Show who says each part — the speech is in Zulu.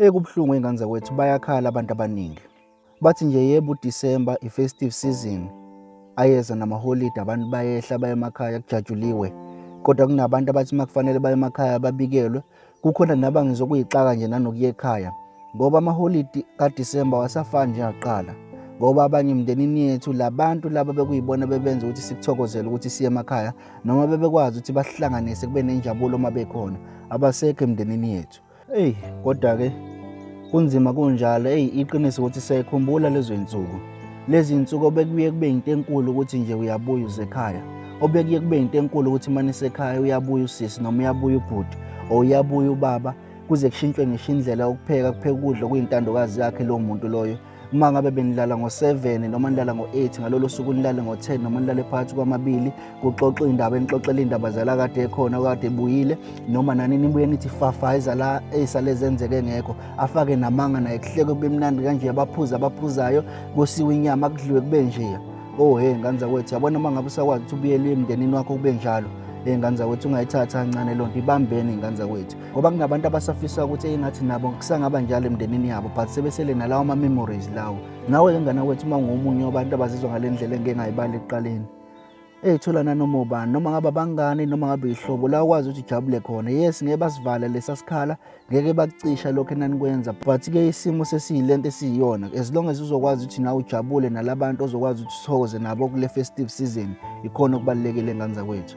Speaker 1: Eyi kubuhlungu ingane zakwethu bayakhala abantu abaningi. Bathi nje yebo uDisemba i-festive season ayeza namaholidi abantu bayehla baye emakhaya kujatshuliwe. Kodwa kunabantu abathi uma kufanele baye emakhaya babikelwe. Kukhona naba ngizokuyixaka nje nanokuya ekhaya ngoba amaholidi kaDisemba wasafani njengaqala ngoba abanye emndenini yethu labantu laba bekuyibona bebenza ukuthi sikuthokozele ukuthi siye emakhaya noma bebekwazi ukuthi basihlanganise kube nenjabulo uma bekhona abasekho emndenini yethu Eyi kodwa-ke kunzima kunjalo eyi iqiniso ukuthi siyayikhumbula lezo iy'nsuku lezi iy'nsuku obekuye kube yinto enkulu ukuthi nje uyabuya uze ekhaya obekuye kube yinto enkulu ukuthi uma nisekhaya uyabuya usisi noma uyabuya ubhuti or uyabuya ubaba kuze kushintshwe ngisho indlela yokupheka kupheka ukudla okuyintandokazi yakhe lowo muntu loyo uma ngabe benilala ngo-7 noma nilala ngo-8 ngalolo suku nilale ngo-10 noma nilale phakathi kwamabili kuxoxwa indaba enixoxela iy'ndaba zala kade ekhona okade ebuyile noma nani nibuye nithi fafa izala ey'sale zenzeke ngekho afake namanga naye kuhleke kube mnandi kanje abaphuzi abaphuzayo kusiwe inyama kudliwe kube njeya oh he ngane zakwethu yabona uma ngabe usakwazi ukuthi ubuyele emndenini wakho kube njalo ey'ngane zakwethu ungayithatha kancane loo nto ibambeni iy'ngane zakwethu ngoba kunabantu abasafisa ukuthi engathi nabo kusangaba njalo emndenini yabo but sebesele nalawo ma-memories lawo nawe-ke ngana kwethu uma ngomunye wabantu abazizwa ngale ndlela engike ngayibali ekuqaleni eyithola nanoma ubani noma ngabe abangani noma ngabe yihlobo la ukwazi ukuthi ujabule khona yes ngeke basivala lesa sikhala ngeke bakucisha lokho enanikwenza but-ke isimo sesiyile nto esiyiyona as long as uzokwazi ukuthi nawe ujabule nalabantu ozokwazi ukuthi uthokoze nabo kule festive season ikhona okubalulekile ngane zakwethu